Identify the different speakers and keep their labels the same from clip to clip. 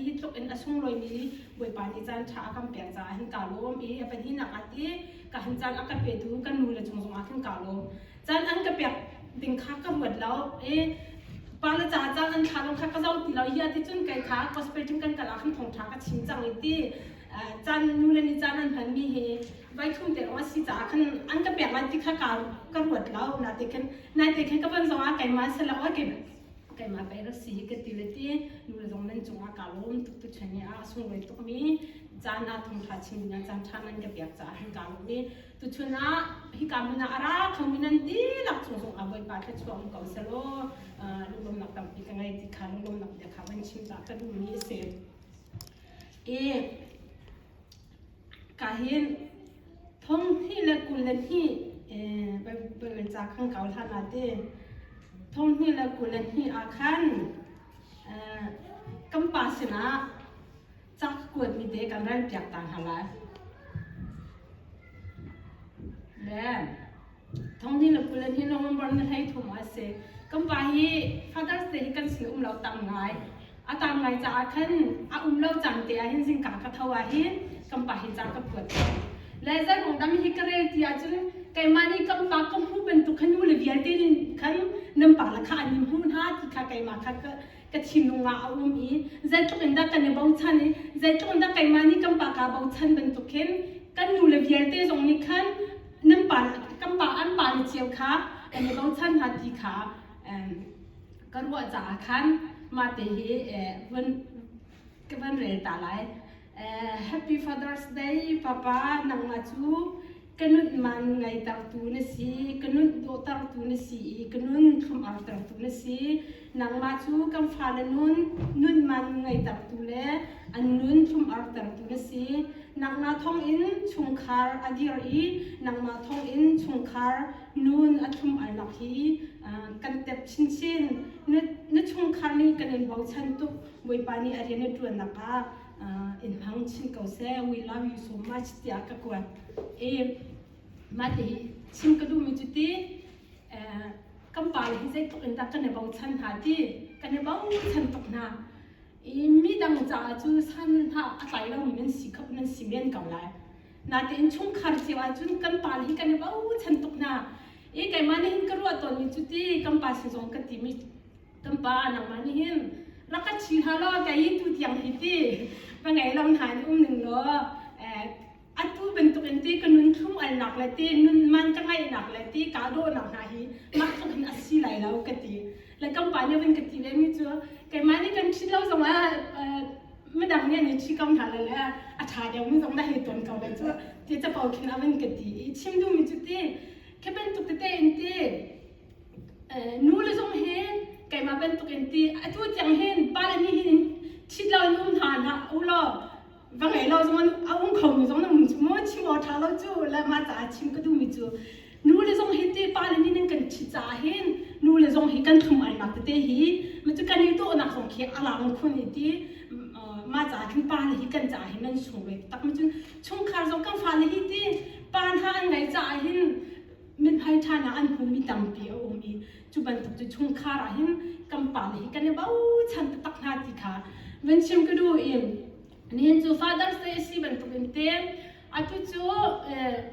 Speaker 1: hi tluk in a sunglawimi bawipa nih caan ṭha a kan pek caah hin kaa lawm i a pahnihnak ah ti ka han caan a ka petu kan nu le chung zongah khin kaa lawm caan an ka pek ding kha ka ruat lo i pa le ca caan an thla lawng kha ka zong ti lo hi a ti cun kei kha gospel ting kan kala khan thongṭha ka chim cang i ti caan nu le nih caan an hmanmi hi vaithum te lawng a si caah khan an ka pek lan ti kha ka ruat lo na te khin na te khin ka van zongah keimah selaw kei keimah pei rak si hi ka ti le ti nu le zong nan cungah kaa lawm tuk tu chen i a sunglawi tukmi caan ah thongtha chim dingah caan ṭha nan ka pek caah hin kaa lawm i tuchun ah hika hmun ah a ra khomi nan dihlak chung zongah bawipa thluachuah um ko selaw lunglawmnak tampi ka ngei ti kha lunglawmnak bia kha van chim ta ka duhmi a si i Kahin thonghnih le kul le hnih ca kan kau hlan ah ti thonghnih le kul le hnih ah khan kan pa sinah ca ka kuatmi te kan ralpiak ta hna lai. Thongni le kul in hi lungum borh na hlei thum a si. Kan pa hi Father's Day hi kan sin um lo tam ngai. A tam ngai caah khan a um lo caan te ah hin zingka ka tho ah hin kan pa hi ca ka phuat ko. Le zeimong dam hi ka rel ti ahcun keimah nih kan pa ka hmu bantuk khan nu le vialte nih khan nan pa la kha an i hmu hna ti kha keimah kha ka ka thinlung ah a um i zeitluk in dah kan i bochan i zeitluk in dah keimah nih kan pa kaa bochan bantuk khin kan nu le vialte zong nih khan nan pa kan pa an pa le cio kha kan i bochan hna ti kha ka ruah caah khan mate hi eh, vun ka van rel ta lai. Happy Father's Day Papa nangmah cu ka nunh man ngaitertu na si, ka nunh dawhtertu na si i ka nun thlum artertu na si. Nangmah cu kan fale nun nunh man ngaitertu le an nun thlum artertu na si. Nangmah thawngin chungkhar a dir i nangmah thawngin chungkhar nun a thlum alnak hi kan tep chinchin. Na chungkhar nih kan in bochan tuk. Bawipa nih a rian a ṭuannak ah in hmang chin ko seh. We love you so much tiah ka kuat. I mah te hi chim ka duhmi cu ti kan pa le hi zeitluk in dah kan i bochan hna ti kan i bochan tuk hna. I mi dang caah cu san hna a tlai lomi nan si khop nan si men ko lai. Natein chungkhar cio ahcun kan pa le hi kan i bochan tuk hna. I keimah nih hin ka ruah tawnmi cu ti kan pa sin zong ka timi Kan pa nangmah nih hin rak ka thi hlah law kei tu tiang hi ti va ngei lo hna in um ning law atu bantuk in ti ka nunthum alnak le ti nun man ka ngaihnak le ti ka dawhnak hna hi mah tluk hin a si lai lo ka ti le kan pa nih vun ka ti ve mi cu keimah nih kan thit lo zong ah midang nih nih thi ko hna le le a tha deuh mi zong na hei ton ko le cu ti capo khin a vun ka ti i chim duhmi cu ti khi bantuk tete in ti Nule zong hi keimah bantuk in ti atu tiang hin pale nih hin ṭhit lo in um hna hlah u law va ngei lo zongin a um khomi zong na um cu maw chim awk ṭha lo cu le mah caah chim ka duhmi cu nule zong hi ti pale nih nan kan ṭhit caah hin nule zong hi kan thlum alnak tete hi ma cu kan i dawhnak zong khi a lang khun i ti mah caah cun pale hi kan caah hin nan sung ve taktak ma cun chungkhar zong kan fale hi ti pa hna an ngeih caah hin mithai ṭhanak an hmumi tampi a um i cu bantuk cu chungkhar ah hin kan pale hi kan i bochan taktak hna ti kha van chim ka duh in nihin cu father's day a si bantuk in te atu cu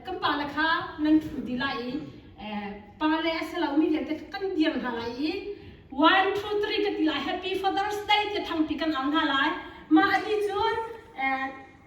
Speaker 1: kan pale kha nan ṭhu dih lai i pale a si lomi vialte kha kan dir hna lai i one two three ka ti lai happy father's day tia thangpi kan ang hna lai mah a ti cun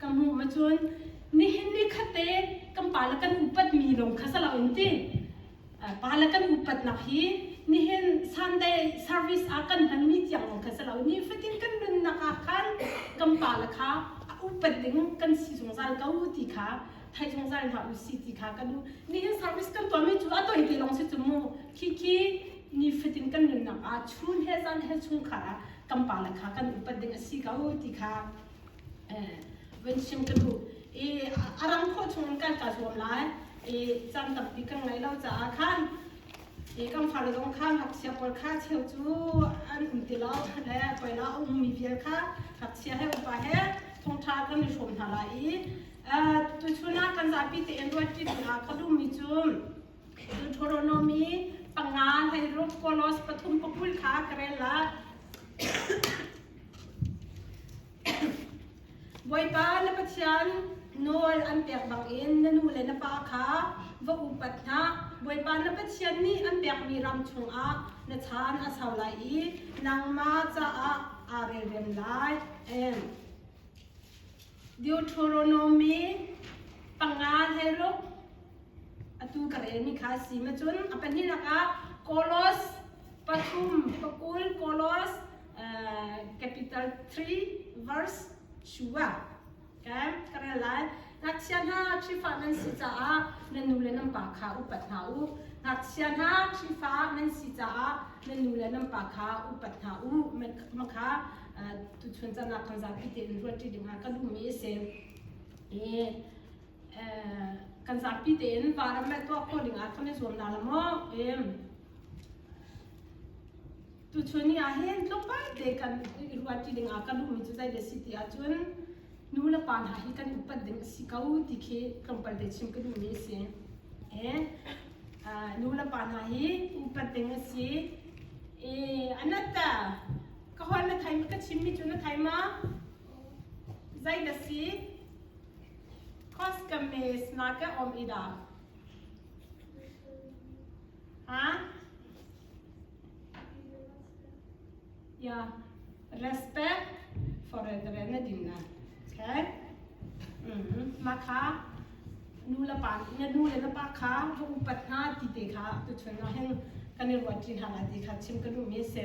Speaker 1: ka hmuh ahcun nihin ni khatte kan pa le kan upatmi lung kha salo in ti pa le kan upatnak hi nihin Sunday service ah kan hmanmi tiang lawng kha salo ni fatin kan nunnak ah khan kan pa le kha a upat ding kan si zungzal ko ti kha thai zungzal hna u si ti kha kan u nihin service kan tuahmi cu a toi te lawng si cumu khi khi ni fatin kan nunnak ah chun he zan he chungkhar ah kan pa le kha kan upat ding a si ko ti kha van sim ka thu i a ram kho chung kan ka zuam lai i cam tampi kan ngai lo caah khan i kan far zong kha ngakchia pawl kha cheu cu an um ti lo le koila a ummi vial kha ngakchia he upa he thongtha kan i hrawm hna lai i tuchun ah kan zapi te en ruat ṭi ah ka dummi cu Deuteronomy panga hlei rum kolos pathum pakul kha ka rel la. Bawipa na Pathian nawl an pek bangin na nu le na pa kha va upat hna. Bawipa na Pathian nih an pekmi ram chungah na chan a sau lai i nangmah caah aa relrem lai. Amen. Deuteronomy panga heluk atu ka relmi kha si ma cun a pahnih lakah Kolos pathum pakul Kolos uh, capital 3 verse shua okay ka rel lai ngakchia hna ṭhifa nan si caah nan nu le nan pa kha upat hna u ngakchia hna ṭhifa nan si caah nan nu le nan pa kha upat hna u makha tuchun canak kan zapi tein ruanṭi dingah ka lummi a si i kan zapi tein varam le tuak ko dingah kan i zuam na la maw tuchun ni ahhin tlukpai te kan i ruanṭi dingah ka lummi cu zei le si ti ahcun nu le pa hna hi kan upat ding a si ko ti khi tlawmpal te chim ka duhmi a si nu le pa hna hi upat ding a si i anata Ka huan na thaimi ka chimmi cu na thaima zei na si Koskames na ka om i da ha ya respect for na din na okay mm ma kha nu la pa na nu le na pa kha va upat hna ti te kha tu chun na hen kan i ruat chin hala ti kha chim ka lu mi se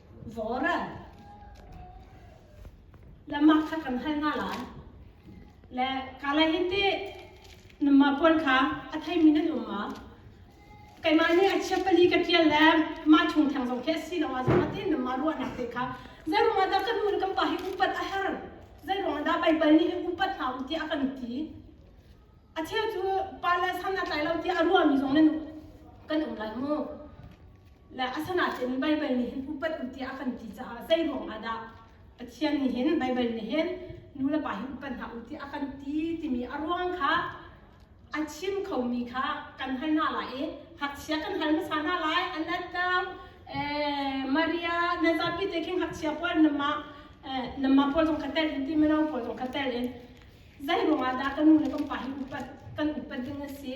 Speaker 1: Vora. Lama kha kan hal nga lai. Le kalai hi ti nama puan kha a thei mi na dum ma. Keima ni a chia pali ka tial le ma chung thang zong khe si lo a zama ti nama ruwa nak te kha. Zai ruang ada kan nu kan pa hi upat a her. Zai ruang ada pai pal ni hi upat na um ti a kan ti. A thia cu pa le san na tlai lo ti a ruwa mi zong ne nu kan um lai mu. le asanain Baibal nih hin upat u tiah a kan ti caah zei ruang ah dah Pathian nih hin Baibal nih hin nulepa hi upat hna u tiah a kan ti timi a ruang kha a chim khomi kha kan hal hna lai i ngakchia kan hal hmasa hna lai anatang eh, Maria na zapi te khi ngakchia puan nama eh, nama pawl zong ka tel in ti mino pawl zong ka tel in zei ruang ah dah ka nu le ka pa hi upat kan upat ding a si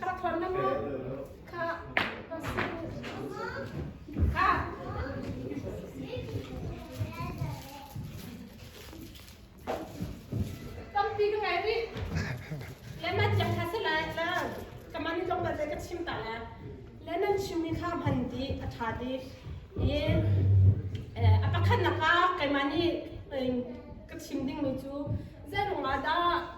Speaker 1: Ka thawn na mu. Ka ka tampi ka ngai rih. Le man tiang kha se lai la. Kaman ni tong balte ka chim ta la. Le nan chimmi kha hman di a tha di. I a pakhat nak ah keimah nih ka chim ding mi cu zarung ah dah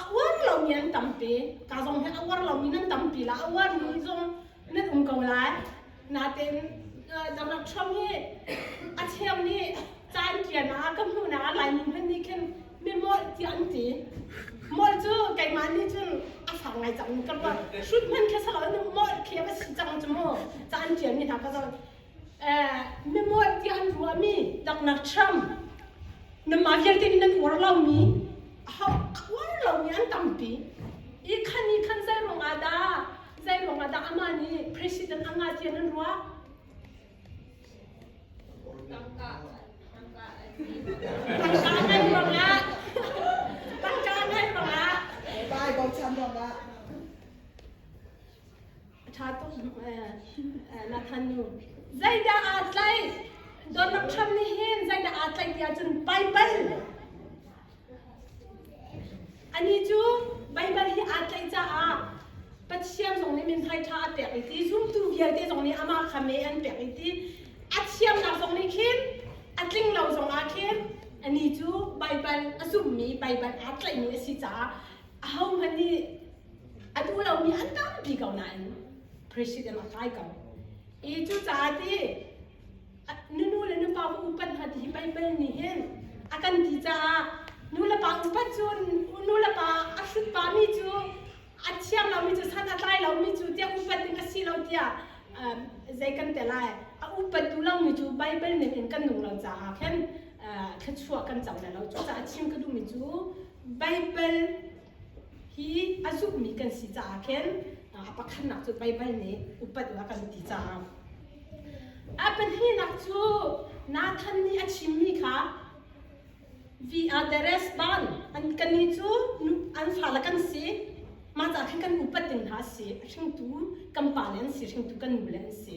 Speaker 1: A uar lomi an tampi. Ka zong hi a uar lomi nan tampi la. A uarmi zong nan um ko lai. Natin uh, Donald Trump hi a thiang nih caan ṭian ah ka hmuh nak Laimi hmanh nih khin mi mawlh tiah an ti. Mawlh cu keimah nih cun a fak ngai cang ka ruah. Hrut hmanh kha salo na mawlh khi a va si cang cu mu. Caan ṭianmi hna ka zong na mual ti an ruahmi taknak Trump na ma vialte in nan uar lomi uar lomi an tampi i khan i khan zei ruang ah dah zei ruang ah dah amah nih president anga tian an ruah tangka ngai ruang ah tangka ngai ruang ah 拜，冇趁落啦。 A ṭha tuk Nathan nu. Zeidah aa tlaih? Donald Trump nih hin zeidah aa tlaih ti ahcun Baibal. Anih cu Baibal hi aa tlaih caah Pathian zong nih mithmai ṭha a pek i ti, zumtu vialte zong nih amah kha mee an pek i ti. A thiamnak zong nih khin a tlinglo zongah khin anih cu Baibal a zummi Baibal aa tlaihmi a si caah ahohmanh nih a duh lomi an tampi ko nain president a kai ko i cucaah ti nunu le nupa va upat hna ti hi peipal nih hin a kan ti caah nu le pa upat cun nu le pa a hrut pami cu a thiang lomi cu san a tlai lomi cu tiah upat ding a si lo tiah um, zei kan te lai a upattu lomi cu Baibal ning in kan nung lo caah khin uh, thluachuah kan co lai lo cucaah chim ka duhmi cu Baibal hi a zummi kan si caah khin a pakhatnak cu Baibal nih upat a kan ti caah a pahnihnak cu Nathan nih a chimmi kha we are the resbon kannih cu an fale kan si mah caah khin kan upat ding hna a si a hringtu kan pa le an si hringtu kan nu le an si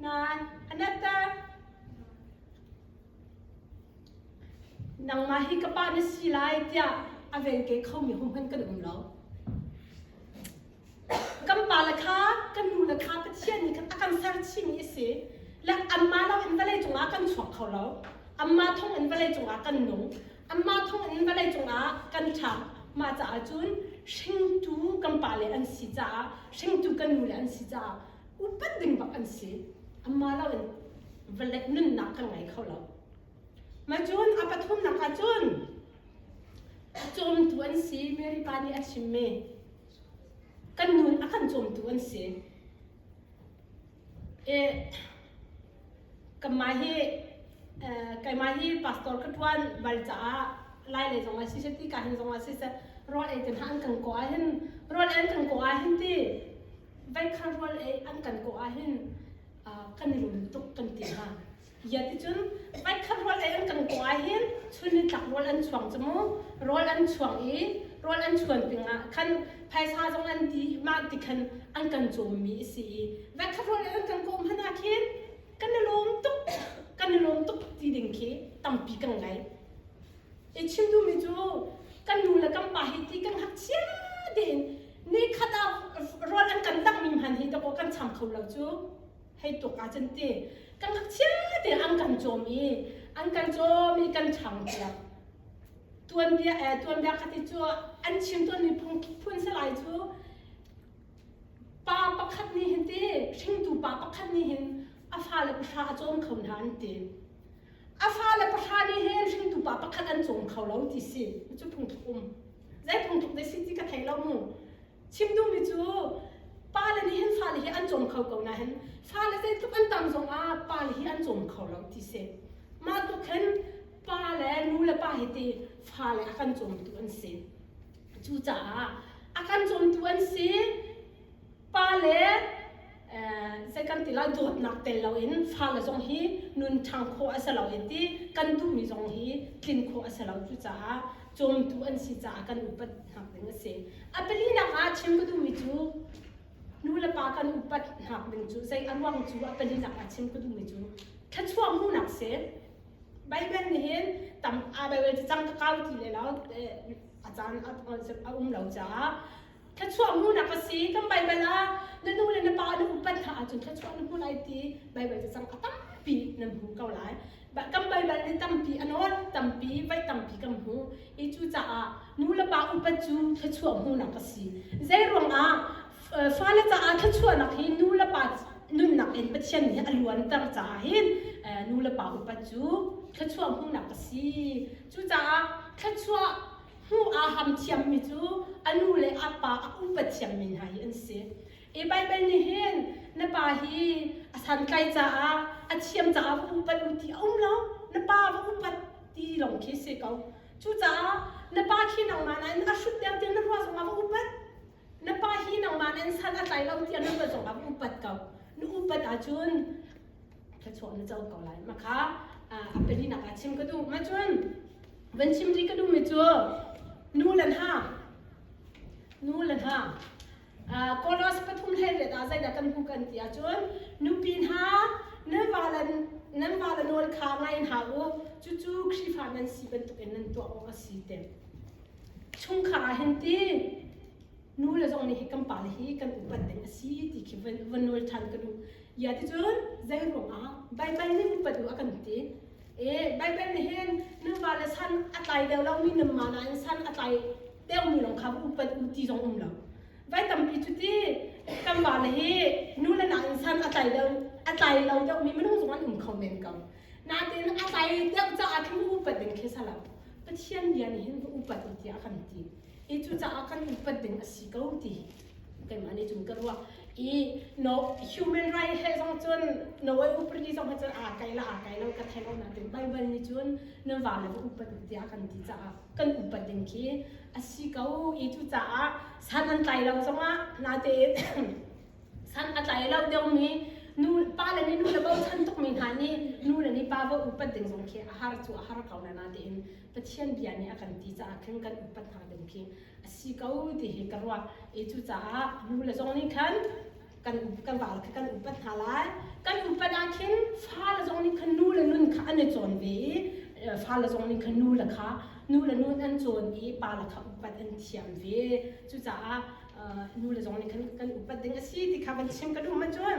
Speaker 1: Nan anatter nangmah hi ka pa na si lai tiah a vel ke khomi ho hmanh kan um lo. Kan pa le kha kan nu le kha Pathian nih khan a kan ser chihmi a si. Le anmah lo in vawlei cungah kan chuak kho lo. Anmah thawng in vawlei cungah kan nung. Anmah thawng in vawlei cungah kan ṭha. Mah caah cun hringtu kan pa le an si caah, hringtu kan nu le an si caah upat ding bak an si amma lo in valek nunnak kan ngei kho lo ma cun a pathumnak ah cun cawmtu an si Mary pa nih a chim me kan nu a kan cawmtu an si e kama hi kaima hi pastor ka tuan bal caah lai le zong a si se ti ka hin zong a si se rol ei ten han kan ko a hin rol en kan ko a hin ti Vaikhal rual ei an kan kawh ahhin kan i rum tuk kan ti hna. Ia ticun vaikhat rual ei an kan kawh ahhin chun ni tlak rawl an chuang cu mu rawl an chuang i rawl an chuan pingah khan phaisa zong an ti mah ti khan an kan cawmmi a si i vaikhat rawl ei an kan kawh hmanh ah khin kan i lawm tuk kan i lawm tuk ti ding khi tampi kan ngei. Hi chim duhmi cu kan nu le kan pa hi ti kan ngakchia tein ni khat ah rawl an kan tangmi hmanh hi takaw kan cham kho lo cu hei tuk ah cun ti kan ngakchia tein an kan cawm i an kan cawm i kan changpiak tuanbia eh tuanbia khat i cu an chim tuanmi phun phun salai cu Pa pakhat nih hin ti hringtu pa pakhat nih hin a fale pahra a cawm kho hna an ti. A fale pahra nih hin hringtu pa pakhat an cawm kho lo ti si. Cu phungthluk um. Zei phungthluk dei si ti ka thei lo mu. Chim duhmi cu pale nih hin fale hi an cawm kho ko nain fale zeitluk an tam zong ah pale hi an cawm kho lo ti si. Mah tluk khin pa le nu le pa hi ti fale a kan cawmtu an si. Cucaah a kan zuamtu an si pa le zei kan ti lo dawtnak tel loin fale zong hi nun ṭhang khawh a si lo i ti kan duhmi zong hi tlin khawh a si lo cucaah cawmtu an si caah kan upatnak ding a si a palinak ah chim ka duhmi cu nu le pa kan upatnak ding cu zei a ruang cu a palinak ah chim ka duhmi cu thluachuah hmuhnak si Baibal nih hin tam aa Baibal cang ka kau ti le lo a caan a concept a um lo caah thluachuah hmunak a si kan baibal ah na nu le na pa na upat hlah ahcun thluachuah na hmu lai ti baibal cacang a tampi nan hmu ko lai kan baibal nih tampi a nawl tampi vai tampi kan hmu i cucaah nu le pa upat cu thluachuah hmunak a si zei ruangah fale caah thluachuahnak hi nu le pa nunnak in pathian nih a luanter caah hin nu le pa upat cu thluachuah hmunak a si Cucaah thluachuah hmuh aa ham thiammi cu a nu le a pa a upat thiammi hna hi an si. Hi Baibal nih hin na pa hi a santlaih caah a thiam caah va upat u ti a um lo. Na pa va upat ti lawng khi si ko. Cucaah na pa khi nangmah nain a hrut deuh tiah na ruah zongah va upat. Na pa hi nangmah nain sal a tlai lo tiah na ruah zongah va upat ko. Na upat ahcun thluachuah na co ko lai ma kha a pahninak ah chim ka duh nga cun van chim rih ka duhmi cu nu le hna nu le hna kolos pathum hlei riat ah zeidah kan hmu kan ti ahcun nupi hna nan vale nan vale nawl kha ngai in hau u cucu khrihfa nan si bantukin nan tuah awk a si te chungkhar ah hin ti nu le zong nih hi kan pa le hi kan upat ding a si ti khi van nawl ṭhan ka nu ya ti cun zei ruangah baibai nih upat u a kan ti e baibai nih hin nuva le san a tlai deuh lomi namma nain san a tlai deuhmi lawng kha upat u ti zong um lo vai tampi cu ti kan pa le hi nu le nain san a tlai deuh a tlai lo deuhmi minung zong an um kho men ko natin a tlai deuh caah khin upat ding khi salo Pathian bia nih hin upat u tiah a kan ti i cucaah kan upat ding a si ko ti keimah nih cun ka ruah i no human right he zong cun no ai upadi zong cun aa kai la aa kai lo ka thei lo nain Bible nih cun nan va le va upat u tiah kan ti caah kan upat ding khi a si ko i cucaah san an tlai lo zongah natein san a tlai lo deuhmi nu pa le nih nu le bochan tukmi hna nih nu le nih pa va upat ding zong khi a har cu a har ko na natein Pathian bia nih a kan ti caah khin kan upat hna ding khi a si ko ti hi ka ruah i cucaah nu le zong nih khan kan kan val kha kan upat hna lai kan upat ah khin fa le zong nih khan nu le nun kha an i cawn ve i fa le zong nih khan nu le kha nu le nun an cawn i pa le kha upat an thiam ve cucaah nu le zong nih khan kan upat ding a si ti kha kan chim ka duh ma cun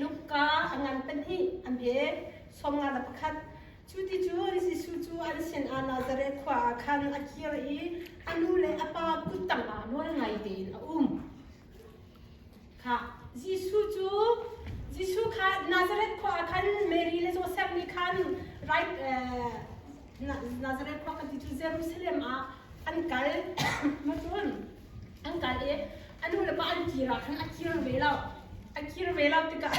Speaker 1: Luka a ngan pahnih an pe som nga da pakhat cu ti cu Jesuh cu an sin ah Nazareth khua ah khan a kir i a nu le a pa kuttang ah nawl ngai tein a um Jesuh kha Nazareth khua ah khan Mary le Josef nih khan right Nazareth khua kan ti cu Jerusalem ah an kal macun an kal i a nu le pa an kir ah khan a kir ve lo a kir ve lo tikah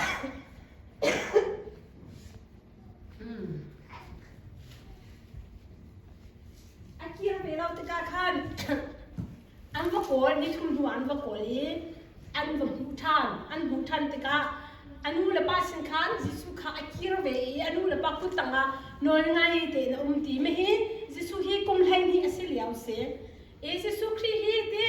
Speaker 1: A kiang ve lo tikah khan an va kawl nithum hnu an va kawl i an va hmuh ṭhan an hmuh ṭhan tikah a nu le pa sin khan Jesuh kha a kir ve i a nu le pa kut tangah nawl ngai tein a um ti mi hi Jesuh hi kum hleihnih a si lio a si. Jesuh Khrih hi ti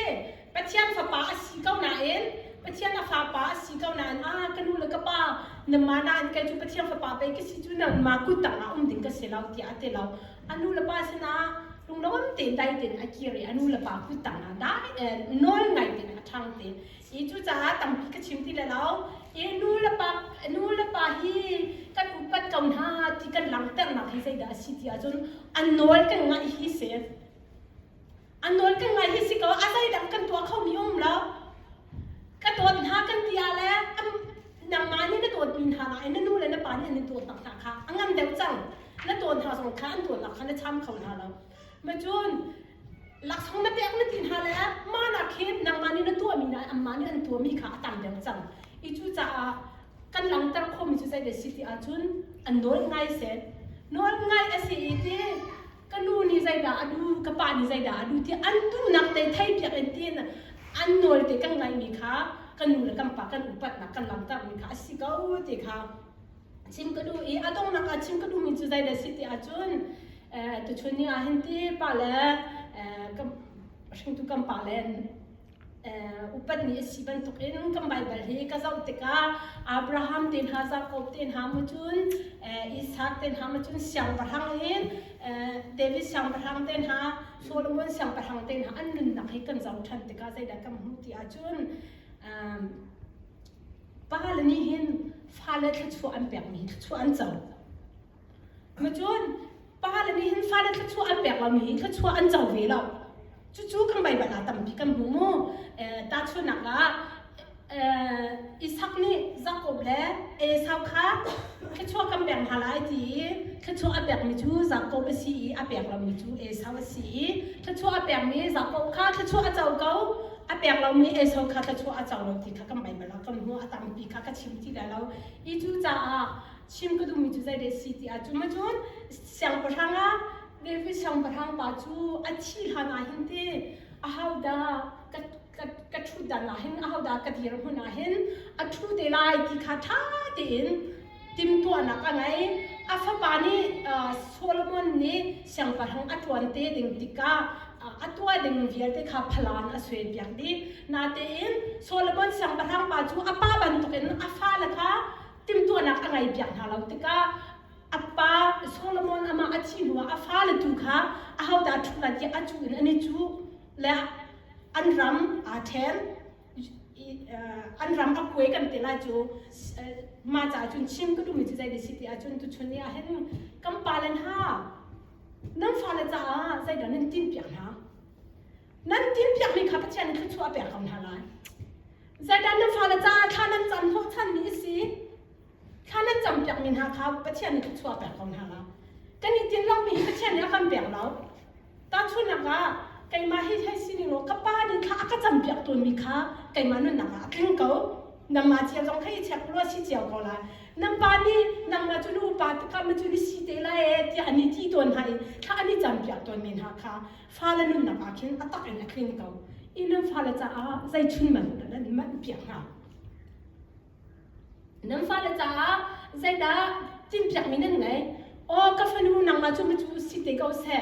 Speaker 1: Pathian fapa a si ko nain Pathian a fapa a si ko nain a ka nu le ka pa nangmah nain kei cu Pathian fapa pei ka si cu nangmah kut tangah um ding ka si lo tiah a ti lo a nu le pa sinah lunglawm tein dai tein a kir i a nu le pa kut tangah dai tein nawl ngai tein a ṭhang te i cucaah tampi ka chim ti le lo i nu le pa nu le pa hi kan upat ko hna ti kan langhternak hi zeidah a si ti ahcun an nawl kan ngaih hi si A nawl kan ngaih hi si kaw a zeidang kan tuah khomi a um lo. Ka dawt hna kan ti ah le nangmah nih na dawtmi hna nakin na nu le na pa nih an in dawt nak hna kha a ngam deuh cang. Na dawt hna zong kha an dawtnak kha na cham kho hna lo. Macun laksawng na pek na ti hna le mahnak hi nangmah nih na tuahmi le anmah nih an tuahmi kha a tam deuh cang. I cu caah kan langhter khomi cu zei dah si ti ahcun an nawl ngai seh. Nawl ngai a si i ti ka nu nih zeidah a du ka pa nih zeidah a du tiah an duhnak te thei piak in tiin an nawl te kan ngaihmi kha kan nu le kan pa kan upatnak kan langhtermi kha a si ko ti kha chim ka duh i a donghnak ah chim ka duhmi cu zeidah si ti ahcun tuchun ni ah hin ti pa le hringtu kan pa le upat ni a si bantukin kan Baibal hi ka zoh tikah Abraham te hna, Jakob te hna mu cun Isaac te hna mu cun siangpahrang in David siangpahrang te hna, Solomon siangpahrang te hna an nunnak hi kan zoh ṭhan tikah zeidah kan hmuh ti ahcun pa le nih hin fale thluachuah an pekmi hi thluachuah an co. Macun pale nih hin fale thluachuah an pek lomi hi thluachuah an co ve lo. Cucu kan baibal ah tampi kan hmuh mu. Tahchunhnak ah, Isak nih Jakob le Esau kha thluachuah kan pek hna lai ti i thluachuah a pekmi cu Jakob a si i a pek lomi cu Esau a si i thluachuah a pekmi Jakob kha thluachuah a co ko, a pek lomi Esau kha thluachuah a co lo ti kha kan baibal ah kan hmuh. A tampi kha ka chim ti lai lo. Hi cu caah chim ka duhmi cu zei de si ti ah cun cun siangpahrang a Levi siangpahrang pa cu a thi hlan ah hin te a hauda ka ka ka ṭhut dan ah hin a hauda ka dir hmun ah hin a ṭhu te lai ti kha ṭha tein timhtuahnak a ngei a fapa nih uh, Solomon nih siangpahrang a ṭuan te ding tikah a tuah ding vialte kha phalan a suen piak dih natein Solomon siangpahrang pa cu a pa bantukin a fale kha timhtuahnak a ngei piak hna lo tikah a pa Solomon amah a thih hnuah a fale tu kha a hota ṭhula tiah a cuh in an i cuh le an ram aa ṭhen an ram a kue kan ti lai cu ma ca cun chim ka duhmi cu zei dih si ti ahcun tuchun ni ahhin kan pale hna nan fale caah zeidah nan tin piak hna nan tin piakmi kha Pathian in thluachuah a pek ko hna lai Satan na fale caah thla nan cam hnawhchanmi a si. Thla nan cam piakmi hna kha Pathian nih a chuah pek ko hna. Kan i tin lomi Pathian nih a kan pek lo. Tahchunhnak ah, keimah hi hei si ning law ka pa nih thla a ka cam piak tuanmi kha keimah nunnak ah a tling ko. Nangmah cia zong hei check law a si cio ko lai. Nan pa nih nangmah cu na upa tikah ma cu na si te lai ee tiah an i ti tawn hna i thla an i cam piak tawnmi hna kha fale nunnak ah khin a tak in a kling ko i nan fale caah zeichun man dah nan man piak hnga nan fale caah zeidah tinpiak mi nan ngei o ka fanu nangla cu macu si te ko se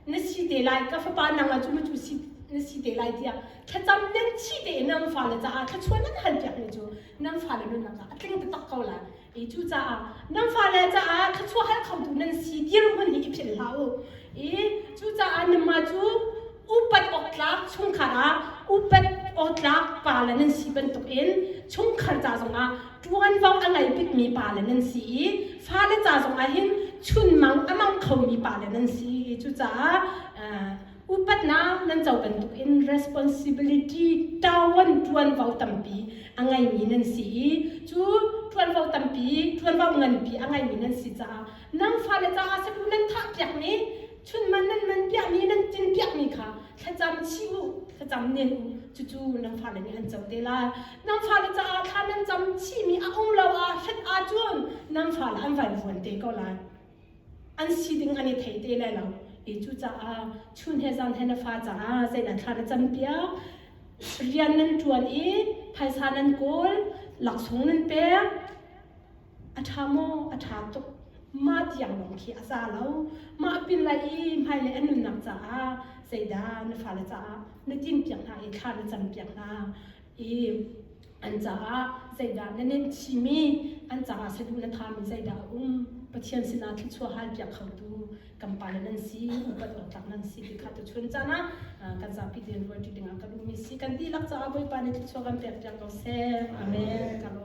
Speaker 1: na si te lai ka fapa nangla cu macu si na si te lai tiah thlacam nan chi te nang fale caah thlachuan nan han piak mi cu nang fale nunnak caah a tling taktak ko lai Kei cu caah nan fale caah thluachuahhal khotu nan si dirhmun hi i philh hlah u. I cucaah nanmah cu upat awktlak chungkhar ah upat awtlak pa le nan si bantuk in chungkhar ca zongah ṭuanvo a ngei bikmi pa le nan si i fale ca zongah hin chunmang a mang khomi pa le nan si i cucaah upatnak nan co bantuk in responsibility tawan ṭuanvo tampi a ngeimi nan si i cu ṭuanvo tampi ṭuanvo nganpi a ngeimi nan si caah nang fale caah sabu nan thah piakmi chunman nan man piahmi nan cin piakmi kha thlacam chi u thlacam nen u cucu nang fale nih an co te lai nang fale caah thla nan cam chihmi a um lo ah hret ahcun nang fale an van vuan te ko lai an si ding an i thei te lai lo i cucaah chun he zan he na fa caah zei na thla na cam piak rian nan ṭuan i phaisa nan kawl laksawng nan pek a ṭha maw a ṭha tuk mah tiang lawng khi a za lo mah pin lai i hmailei an nunnak caah zeidah na fale caah na tin piak hna i thla na cam piak hna i an caah zeidah na nen chimi an caah saduh na thami zeidah a um pathian sinah thluachuah hal piak khotu kan pale nan si upat awtlak nan si ti kha tu chun cana kan zapi din rual ti dingah kan um si kan dihlak caah bawipa nih thluachuah kan pek piak ko seh amen kalo